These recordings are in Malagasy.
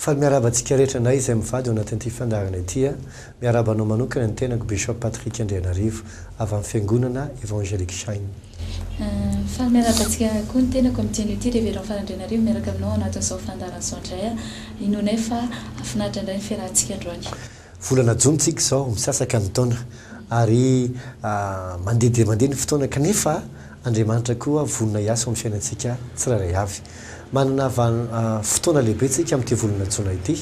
Faly miarahaba antsika rehetra na izay mivady ao anatin'ity fandaharana ity a! Miarahaba anao manokana ny tenako Bishop Patrick Andrianarivo avy amin'ny Fiangonana Evangelique Shine. Faly miarahaba antsika koa ny tenako amin'ity anio ity Reverend Faly Andrianarivo miaraka aminao ao anatin'izao fandaharan'izao indray a! Inoanay fa hafinaritra indray ny fiarahantsika androany. Volana jona tsika izao, misasaka ny taona ary mandeha dia mandeha ny fotoana kanefa Andriamanitra koa vonona hiasa ao amin'ny fiainantsika tsirairay avy. Manana fotoana lehibe tsika amin'ity volana jona ity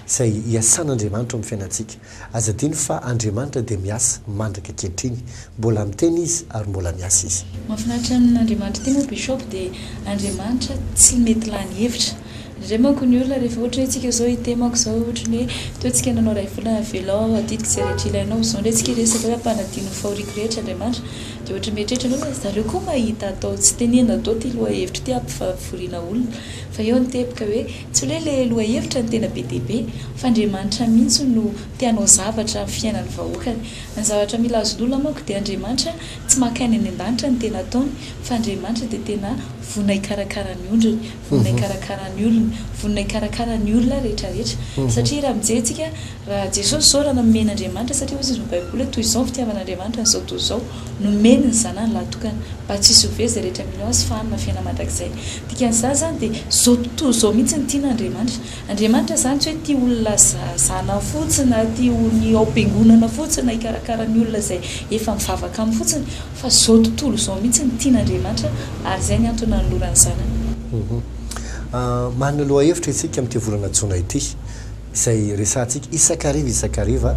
izay hiasan'Andriamanitra ao amin'ny fiainantsika. Aza adino fa Andriamanitra dia miasa mandraka ankehitriny, mbola miteny Izy ary mbola miasa Izy. Mahafinaritra an'Andriamanitra ity moa Bishop dia Andriamanitra tsy mety lany hevitra Ndray manko ny olona rehefa ohatra hoe tsika zao ite manko zao ohatra ny hoe teo tsika nanao iray volana avelao aho adidiko ze rehetra ilainao zao ndray tsika hiresaka hoe ampanadino ny fahoriako rehetra Andriamanitra de ohatra mieritreritra anao hoe zareo koa mahita atao tsy tenenina do ty lohahevitro ty ampifavoriana olona fa eo ny teboka hoe tsy hoe le lohahevitra no tena be dia be fa Andriamanitra mintsy no te hanao zavatra am fiainany vahoakany ny zavatra mila azon'olona manko de Andriamanitra tsy maka any any andanitra ny tena ataony fa Andriamanitra de tena vonona hikarakara ny ondriny vonona hikarakara ny olony, vonona hikarakara ny olona rehetrarehetra. Satria raha mijery tsika, raha Jesosy zao raha nanome n'Andriamanitra, satria hoy izy ny baiboly hoe toy izao ny fitiavan'Andriamanitra an'izao tontolo izao, nomeny ny zanany lahtokana, mba tsy hisy ho very izay rehetra mino azy fa hanana fiainana mandrakizay. Dikan'izany izany dia izao tontolo izao mihitsy no tian'Andriamanitra. Andriamanitra izany tsy hoe tia olona zanany fotsiny na tia ny ao am-piangonana fotsiny na hikarakara ny olona izay efa mivavaka aminy fotsiny, Fa zao tontolo zao mihitsy no tian Andriamanitra ary zay ny antony nanolorany zanany. Humm. Manana lohahevitra isika amin'ity volana jona ity, izay resahantsika isak'hariva isak'hariva,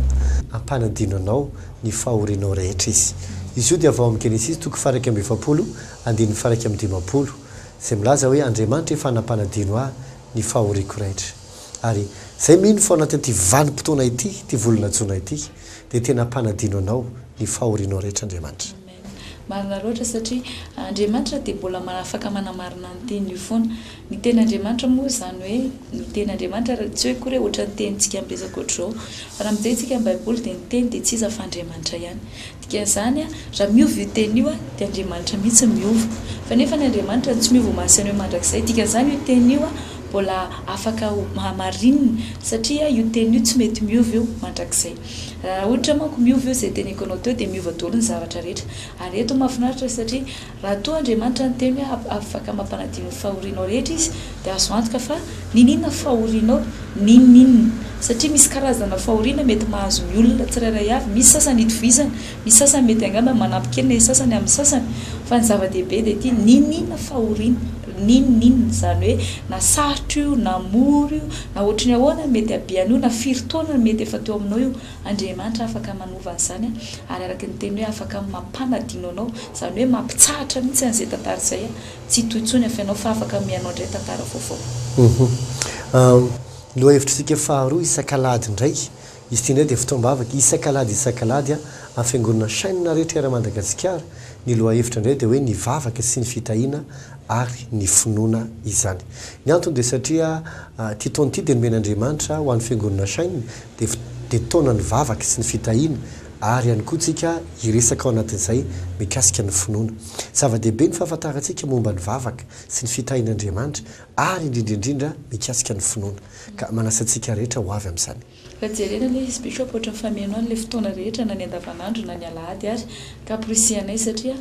hampanadino anao ny fahorianao rehetra izy. Izy io dia avy ao amin'ny Genesisy toko faha iraika amby efapolo andininy faha iraika amby dimampolo, izay milaza hoe Andriamanitra efa nampanadino ahy ny fahoriako rehetra. Ary izay mino fa ao anatin'ity vanim-potoana ity, ity volana jona ity, dia tena ampanadino anao ny fahorianao rehetra Andriamanitra. Amen marina loatra satria Andriamanitra dia mbola afaka manamarina ny teniny io foana. Ny teny Andriamanitra moa izany hoe ny teny Andriamanitra ary tsy hoe akory hoe ohatran'ny tenintsika ampiresaka ohatr'izao fa raha mijery tsika ny baiboly dia ny teny dia tsy iza fa Andriamanitra ihany. Dikan'izany raha miova io teny io dia Andriamanitra mihitsy miova fa nefa ny Andriamanitra no tsy miova ho mahasaina hoe mandrakizay dikan'izany io teny io Mbola afaka ho mahamarinina satria io teny io tsy mety miova io mandrakizay. Raha ohatra manko miova io izay teny ekenao teo dia miova daholo ny zavatra rehetra. Ary eto mahafinaritra satria raha toa Andriamanitra no teny hoe afaka mampanadio ny fahorianao rehetra izy dia azo antoka fa niniana fahorianao ninoninona satria misy karazana fahoriana mety mahazo ny olona tsirairay avy misy sasany itovizana misy sasany mety angamba manampy kely ny an'ny sasany amin'ny sasany fa ny zava-dehibe dia ity niniana fahoriana N'inon'inona izany hoe na sarotra io na mora io, na ohatry ny ahoana ny mety habeany io, na firy taona ny mety efa teo aminao io, Andriamanitra afaka manova an'izany ary araka ny teniny hoe afaka mampanadino anao, izany hoe mampitsahatra mihitsy an'izay tantara izay, tsy hitohy intsony ny afenao fa afaka mihaino indray tantara vaovao. Lohahevitrisika faharoa isak'alahady indray Izy ity indray dia fotoam-bavaka isak'alahady isak'alahady ampiangonana chaine rehetra eran Madagasikara, ny lohahevitra indray dia hoe ny vavaka sy ny fitahiana ary ny finoana izany. Ny antony dia satria ity taona ity dia nomen'Andriamanitra ho an'ny fiangonana chaine dia dia taonan'ny vavaka sy ny fitahiana ary ihany koa tsika hiresaka ao anatin'izay mikasika ny finoana. Zava-dehibe ny fahafantarantsika momba ny vavaka sy ny fitahian'Andriamanitra ary indrindra indrindra mikasika ny finoana. Ka manasa antsika rehetra ho avy amin'izany. Ka jerena anie izy Bishop ohatran'ny fameno an'ilay fotoana rehetra na ny andavanandro na ny alahady ary ka porisihanay satria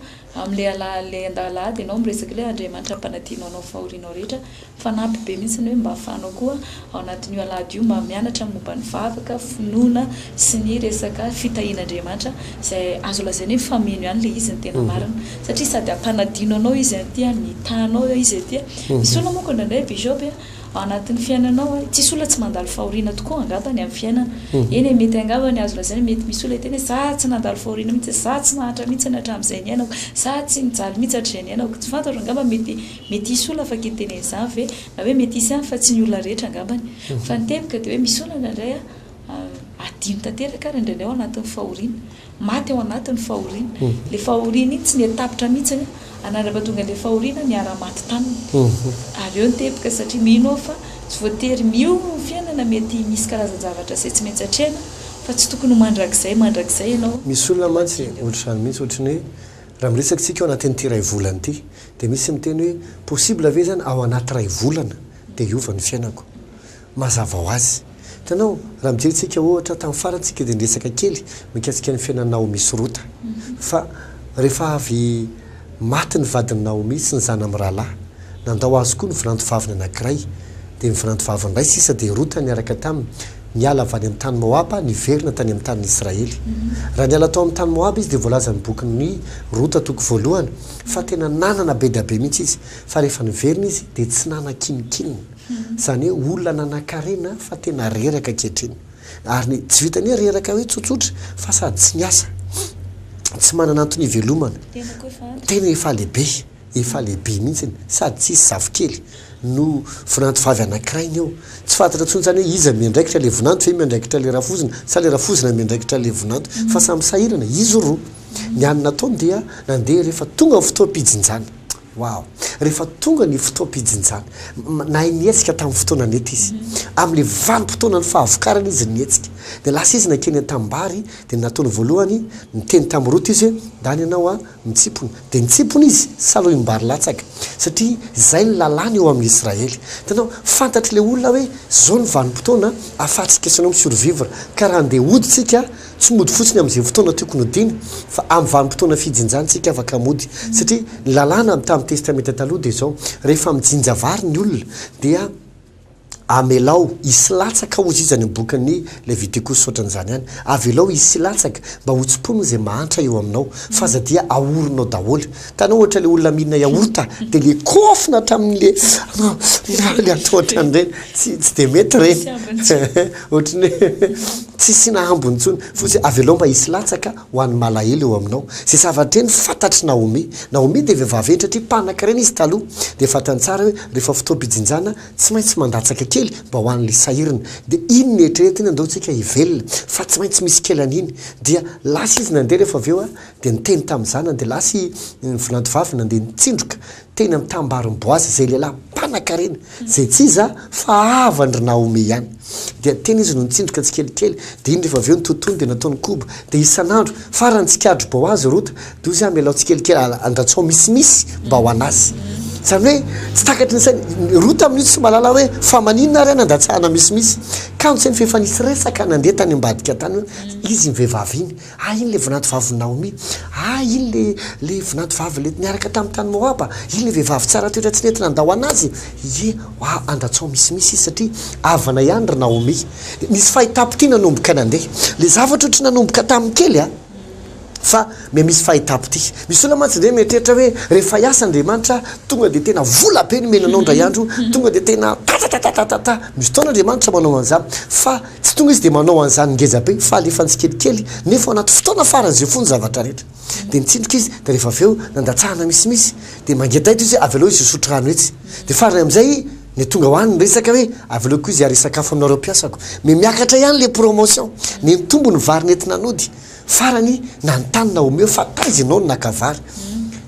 amin'ilay alahady ilay alahady ianao miresaka ilay Andriamanitra mpanadino anao fahorianao rehetra fanampy be mihitsy ny hoe mba afahanao koa ao anatin'io alahady io mba mianatra ny momba ny vavaka, finoana sy ny resaka fitahian'Andriamanitra izay azo lazaina hoe fameno ihany ilay izy ny tena marina satria sady ampanadino anao izy aty an, mitaha anao izy aty an, misy olona moa koa indraindray Bishop an. Ao anatin'ny fiainanao hoe tsisy olona tsy mandalo fahoriana tokoa angamba ny amin'ny fiainana. Eny e, mety angamba ny azo lazaina hoe mety misy olona hiteny hoe za tsy nandalo fahoriana mihitsy e, za tsy nahantra mihitsy ny hatramin'izay niainako, za tsy nijaly mihitsy hatrizay niainako. Tsy fantatro, angamba mety mety hisy olona afaka hiteny an'izany ve? Na hoe mety hisy ihany fa tsy ny olona rehetra angambany. Fa ny tebika dia hoe misy olona indraindray a, adino tanteraka ary indraindray ao anatin'ny fahoriana. Maty ao anatin'ny fahoriana. Ilay fahoriana iny tsy nety tapitra mihitsy aloha, anandraba tonga ilay fahoriana niara-maty taminy. Ary eo ny teboka satria mino aho fa tsy voatery miomana ny fiainana, mety misy karazan-javatra izay tsy maintsy atrehina fa tsy tokony ho mandrakizay mandrakizay ianao. Misy olona mantsy ohatr'izany mihitsy, ohatry ny hoe raha miresaka isika ao anatin'ity iray volana ity dia misy miteny hoe possible ve izany ao anaty iray volana dia hiova ny fiainako? Mazava ho azy. Hitanao, raha mijery tsika ohatra, tamin'ny farany tsika dia niresaka kely mikasika ny fiainan'i Naomi sy Rota. Fa rehefa avy maty ny vadin'i Naomi sy ny zanany mirahalahy, nandao azy koa ny vinantovaviny anankiray. Dia ny vinantovaviny iray sisa dia Rota niaraka taminy niala avy any amin'ny tany Moaba niverina tany amin'ny tanin'i Israely. Raha niala tao amin'ny tany Moaba izy dia voalaza amin'ny bokin'i Rota toko voalohany fa tena nanana be dia be mihitsy izy. Fa rehefa niverina izy dia tsy nanan-kininkininy. Izany hoe olona nanan-karena fa tena reraka ankehitriny. Ary ny tsy vitany hoe reraka hoe tsotsotra fa sady tsy miasa, tsy manana antony hivelomana. Tena efa lehibe, efa lehibe mihitsy sady tsisy zafikely no vinanto vavy anankiray ny eo. Tsy fantatra intsony izany hoe iza miandraikitra ilay vinanto ve miandraikitra ilay rafozina sa ilay rafozina miandraikitra ilay vinanto fa samy sahirana izy roa. Ny hany nataony dia nandeha rehefa tonga ny fotoam-pijinjana. Wow! Rehefa tonga ny fotoam-pijinjana, nahay nihetsika tamin'ny fotoana nety izy. Amin'ilay vanim-potoanan'ny fahavokarana izy nihetsika. Dia lasa izy nankeny an-tanimbary, dia ny nataony voalohany, niteny tamin'i Rota izy hoe, Ndany ianao aho, mitsipona. Dia nitsipona izy, salohim-bary latsaka, satria izay ny lalàna eo amin'ny Israely. Hitanao, fantatr'ilay olona hoe izao ny vanim-potoana ahafahantsika sy ianao mi-survivre, ka raha handeha hody isika, Tsy mody fotsiny amin'izay fotoana tiako nodiana, fa amin'ny vanim-potoana fijinjan-tsika afaka mody. Satria ny lalàna amin'ny tamin'ny Testamenta Taloha dia izao, rehefa mijinja vary ny olona, dia amelao hisy latsaka hozy izy any amin'ny bokin'ny Levitikosy hoatran'izany ihany. Avelao hisy latsaka mba hotsimponiny izay mahantra eo aminao, f'aza dia ahorinao daholo. Hitanao ohatra le olona mihinana yaourt de le kofona hatramin'ny le le atao ohatran'ireny tsy tsy de mety ireny ohatry ny hoe tsy asiana hambony intsony fotsiny avelao mba hisy latsaka ho an'ny malahelo eo aminao ze zavatra ireny fantatr'i Naomi Naomi dia vehivavy hentitra tia mpanankarena izy taloha dia fantany tsara hoe rehefa fotoam-pijinjana tsy maintsy mandatsaka kely mba ho an'ilay sahirana dia iny no eritreretiny andao tsika hivelona fa tsy maintsy misy kely an'iny dia lasa izy nandeha rehefa avy eo Dia niteny tamin'ny zana-dehilahy sy ny volantovavy nandeha nitsindroka teny amin'ny tanim-barin'i Boaza izay lehilahy mpanankarena, izay tsy iza fa havandry Naomy ihany. Dia teny izy no nitsindroka tsikelikely, dia iny rehefa avy eo ny tontony dia nataony koba, dia isan'andro, farany tsikarotry Boaza, Rota, dia hozy aho mialao tsikelikely, andratsao misimisy mba ho an'azy. Izany hoe tsy takatry ny sainy Rota amin'io tsy mahalala hoe fa maninona ary aho nandatsahana misimisy. Kanjo sainy f'efa nisy resaka nandeha tany ambadika tany hoe izy iny vehivavy iny. Ah, iny ilay vinantovavin'i Naomy. Ah, iny ilay, ilay vinantovavy ilay niaraka tamin'ny tany Moaba. Iny ilay vehivavy tsara toetra tsy nety nandao an'azy. Ie, ah, andatsaho misimisy izy satria havana ihany ry Naomy. Nisy fahitapo-tia nanomboka nandeha. Ilay zavatra ohatry ny nanomboka tamin'ny kely an! Fa miha misy fahitapo-tia. Misy olona mantsy indray mieritreritra hoe rehefa hiasa Andriamanitra, tonga dia tena vola be nomena anao indray andro, tonga dia tena ta-ta-ta-ta-ta-ta-ta. Misy fotoana Andriamanitra manao an'izany. Fa. Tsy tonga izy dia manao an'izany ngejabe fa alefany tsikelikely nefa ao anaty fotoana farany izay fony zavatra rehetra dia nitsindroka izy dia rehefa avy eo nandatsahana misimisy dia mangeda eto izy avelao izy hisotro rano etsy dia farany amin'izay ny tonga ho any ny resaka hoe avelao koa izy haharesakafo aminareo mpiasako memiakatra ihany ilay promotion ny nitombo ny vary nentina nody Farany, nanontany Naomeo fa taiza ianao no naka vary.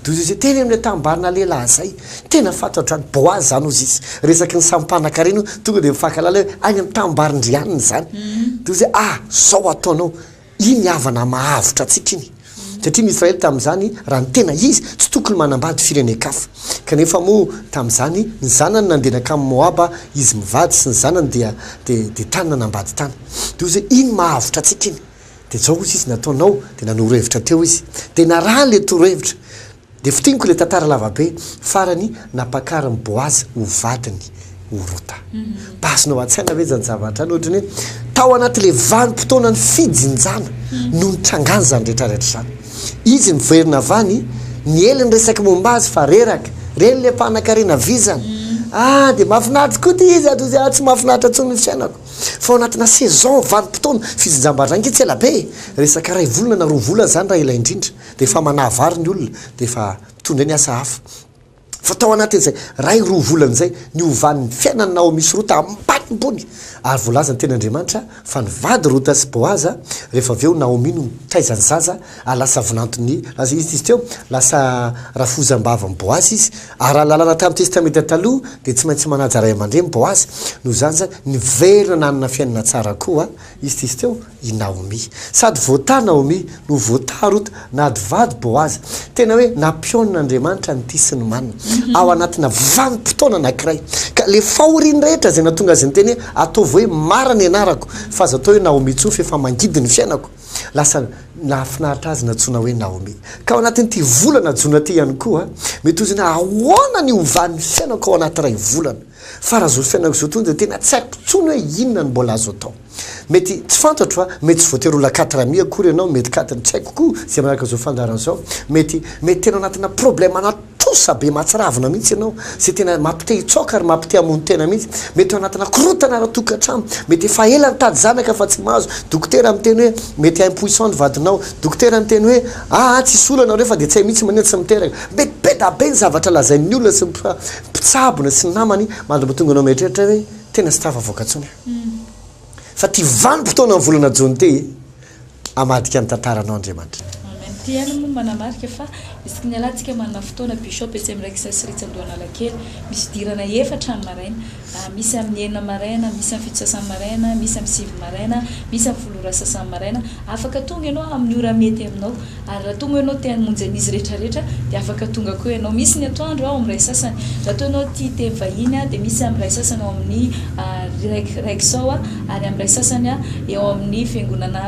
Dia hoy José, Teny amin'ilay tanimbary-na lehilahy izay. Tena fantatro hatrany, Boaza izany hozy izy. Resaky ny samy mpanankarena io, tonga dia mifankahalala hoe, Any amin'ny tanimbarin-dry anona izany. Dia hoy José, Ah, izao ataonao, iny havana mahavotra antsika iny. Satria ny Israely tamin'izany, raha ny tena izy, tsy tokony manambady firenen-kafa. Kanefa moa, tamin'izany, ny zanany nandeha nankamy Moaba izy mivady sy ny zanany dia, dia, dia tany nanambady tany. Dia hoy José, Iny mahavotra antsika iny. Dia zao ozy izy nataonao dia nanoro hevitra teo izy dia narahany le toro hevitra dia fintiniko le tantara lava be farany nampakariny boazy ho vadiny ho rota bazinao atsaina ve zany zavatra any ohatry ny hoe tao anaty le vanimpotoana ny fijinjana no nitrangany zany rehetra rehetra zany izy miverina avany ny hely ny resaky momba azy fa reraka reny le mpanakarena vizana ah dia mafinaritra koa ty izy ato izy ah tsy mafinaritra tsony ny fiainako Fa ao anatina saison vanim-potoana fijinjam-bazaha ange tsy ela be e! Resaka iray volana na roa volana izany raha ela indrindra dia efa manahy vary ny olona dia efa mitondra ny asa hafa. Fa tao anatin'izay iray roa volana izay niovan'ny fiainan'i Naomy sy Rota ambanimbony ary voalazan'ny Tenin'Andriamanitra fa nivady Rota sy Boaza rehefa avy eo Naomy no nitaiza ny zaza ary lasa vinanton'i, lasa inona izy teo? lasa rafozam-bavan'i Boaza izy. Araha ny lalàna tamin'ny Testamenta Taloha, dia tsy maintsy manaja ray aman-dreny Boaza. Noho izany izany, niverina nanana fiainana tsara koa izy tetsy teo i Naomy. Sady voataha Naomy no voataha Rota, na adivady Boaza. Tena hoe nampionon'Andriamanitra ny tia sy ny manina, ao anatina vanim-potoana anankiray. Ka ilay fahoriany rehetra izay nahatonga azy niteny hoe, Ataovy hoe Mara ny anarako, fa aza atao hoe Naomy intsony fa efa mangidy ny fiainako. Lasa nahafinaritra azy nantsoina hoe Naomi. Ka ao anatin'ity volana jona ity ihany koa, mety hozy hoe ahoana ny hovan'ny fiainako ao anaty iray volana? Fara izao fiainako izao tony dia tena tsy haiko intsony hoe inona no mbola azo atao. Mety tsy fantatro a, mety tsy voatery ho la quatre amis akory ianao, mety katiny tsy haiko koa izay manaraka izao fandaharana izao. Mety, mety tena anatina problema anaty. Trosa be mahatsiravina mihitsy ianao, izay tena mampite hitsaoka ary mampite hamono tena mihitsy. Mety ao anatina korontana ara-tokantrano, mety efa ela nitady zanaka fa tsy mahazo, dokotera miteny hoe mety impuissant ny vadinao, dokotera miteny hoe aa tsisy olana ireo fa dia tsy hay mihitsy manina tsy miteraka. Mety be da be ny zavatra lazain'ny olona sy ny mpitsabona sy ny namany mandry mba tonga anao mieritreritra hoe tena tsy tafavoaka intsony aho fa ity vanim-potoanan'ny volana Jona ity e! hamadika ny tantaranao Andriamanitra. Amen ty hany moa manamarika fa isaky ny alantsika manana fotoana bishop etsy amin'ny Raikisa sy Ritsy Andohanalakely misy fidirana efatra ny maraina ah misy amin'ny enina maraina misy amin'ny fito sasany maraina misy amin'ny sivy maraina misy amin'ny folo ora sasany maraina afaka tonga ianao amin'ny ora mety aminao Ary raha toa moa ianao te hamonjy an'izy rehetrarehetra, dia afaka tonga koa ianao. Misy ny atoandro ao amin'ny iray sasany. Raha toa ianao tia teny vahiny, dia misy amin'ny iray sasany ao amin'ny Rexall, ary amin'ny iray sasany eo amin'ny fiangonana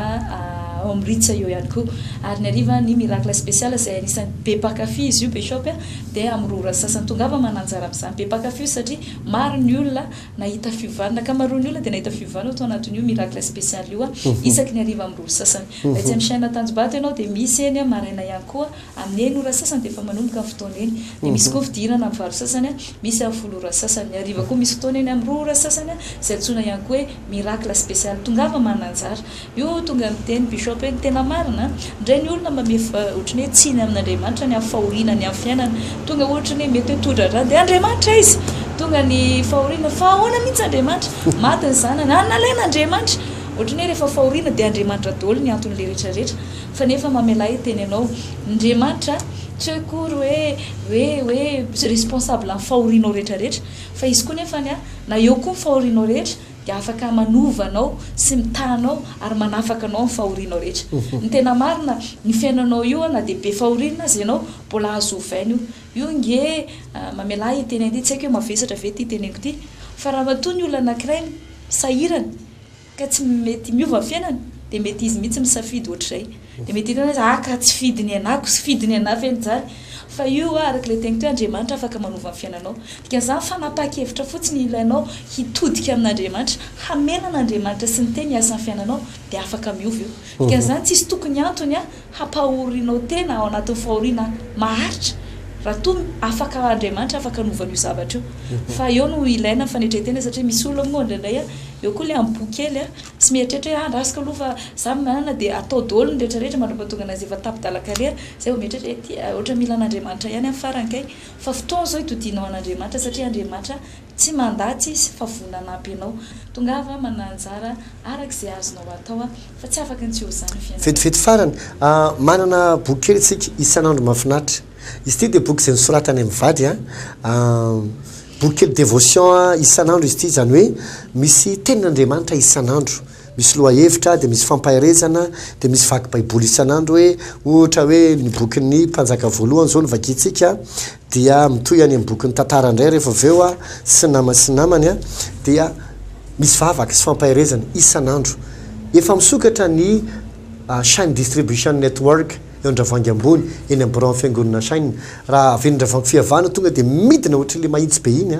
ao amin'ny Ritz eo ihany koa. Ary ny hariva, ny Miracle Special, izay anisan'ny be mpankafy izy io Bishop, dia amin'ny roa ora sasany. Tongava mananjara amin'izany. Be mpankafy io satria maro ny olona. Nahita fiovana. Ny ankamaroan'ny olona dia nahita fiovana ao tao anatin'io miracle spécial io isaky ny hariva amin'ny roa ora sasany. Raha etsy amin'ny chaîne Antanjombato ianao dia misy eny maraina ihany koa amin'ny enina ora sasany dia efa manomboka ny fotoana eny. Dia misy koa fidirana amin'ny valo sasany, misy amin'ny folo ora sasany. Ny hariva koa misy fotoana eny amin'ny roa ora sasany izay antsoina ihany koa hoe miracle spécial. Tongava mana anjara. Io tonga niteny bishop hoe ny tena marina ndray ny olona mba mif ohatran'ny hoe tsiny amin'Andriamanitra ny amin'ny fahoriana ny amin'ny fiainana tonga ohatran'ny hoe mety hoe todradrano dia Andriamanitra aiza tonga ny fahoriana fa ahoana mihitsy Andriamanitra maty ny zanany ary nalaina Andriamanitra ohatran'ny hoe rehefa fahoriana dia Andriamanitra doly ny anton'ilay rehetra rehetra fa nefa mamelà hiteny anao Ndriamanitra tsy hoe akory hoe hoe hoe responsable amin'ny fahorianao rehetra rehetra fa izy koa nefany na eo koa ny fahorianao rehetra dia afaka manova anao sy mitaha anao ary manafaka anao amin'ny fahorianao rehetra. Ny tena marina, ny fiainanao io na dia be fahoriana aza ianao, mbola azo ovaina io. Io nge mamelà hiteny an'ity, tsy haiko hoe mavesatra ve ity teneniko ity, fa raha matoa ny olona anankiray sahirana ka tsy mety miova ny fiainany dia mety izy mihitsy misafidy ohatr'izay. Dia mety hitanao izy, ah ka tsy fidiny anako sy fidiny anà ve izany? Fa io hoa, araka ilay teniko teo, Andriamanitra afaka manova ny fiainanao. Dikan'izany, fanapahan-kevitra fotsiny ilainao hitodika amin'Andriamanitra, hamela an'Andriamanitra sy ny Teniny hiasa amin'ny fiainanao, dia afaka miova io. Dikan'izany, tsisy tokony antony hampahorianao tena ao anatin'ny fahoriana maharitra, raha toa afaka Andriamanitra afaka hanova an'io zavatra io. Fa eo no ilaina ny fanetren-tena, satria misy olona moa indraindray, eo koa ilay amboa kely, Tsy mieritreritra hoe ah andrasiko aloha fa za manana dia atao daholo ny rehetra rehetra mandra pahatonga anay zay efa tapidala carrière zay vao mieritreritra hoe ty ohatra mila an'Andriamanitra ihany amin'ny farany kay fa fotoana zao itodinao an'Andriamanitra satria Andriamanitra tsy mandà tsy izy fa vonona hanampy anao tongava manà anjara araka izay azonao atao fa tsy afaka ny tsy ho za ny fiainanao. Vetivety farany, manana boky kely isika isan'andro mahafinaritra. Izy ity dia boky izay nosoratany amin'ny vady an, boky kely devotion isan'andro izy ity, izany hoe misy tenin'Andriamanitra isan'andro, misy lohahevitra, dia misy fampaherezana, dia misy vaky baiboly isan'andro hoe, ohatra hoe ny bokin'ny mpanjaka voalohany izao no vakintsika, dia mitohy any amin'ny bokin'ny tantara indray rehefa avy eo, sy ny namany sy ny namany an, dia misy vavaka sy fampaherezana isan'andro. Efa misokatra ny Shine Distribution Network. eo Andravoahangy ambony eny am biraon'ny fiangonana Shine raha avy eny Andravoahangy fihavana tonga dia midina ohatran'ilay mahitsy be iny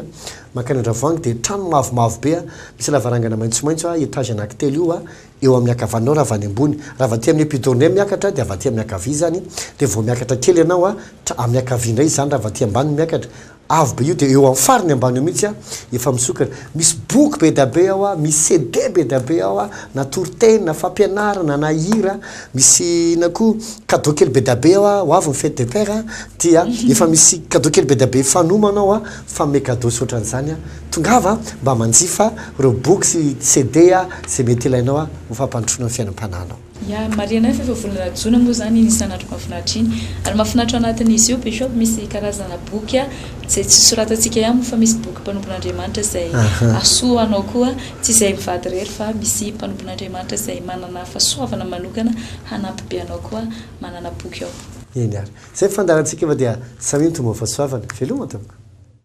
mankany Andravoahangy dia trano mavomavo be misy lavarangana maitsomaitso etage anakitelo io eo amin'ny akavaninao raha avy any ambony raha avy aty amin'ny epidourne miakatra dia avy aty amin'ny akavia izany dia vao miakatra kely ianao amin'ny akavia indray izany raha avy aty ambany miakatra Avo be io dia eo am fariny ambany eo mihitsy efa misokatra. Misy boky be da be ao, misy CD be da be ao, na toriteny, na fampianarana, na hira, misy inona koa cadeau kely be da be ao, ho avy ny fete des pères dia efa misy cadeau kely be da be fanomana ao, fanome cadeau sy otran'izany. Tongava mba manjifa ireo boky sy CD izay mety ilainao ho fampandrosoana ny fiainam-panahinao. Ya, marihina fa efa volana jona moa izany iny isan'andro mahafinaritra iny. Ary mahafinaritra ao anatin'izy io bishop misy karazana boky izay tsy soratantsika ihany moa fa misy boky mpanompon'Andriamanitra izay hasoa ho anao koa, tsy izay mivady irery fa misy mpanompon'Andriamanitra izay manana fahasoavana manokana hanampy be anao koa manana boky ao. Eny ary. Izay ny fandaharantsika fa dia samy mitmba ho fahasoavana. Veloma tompoko.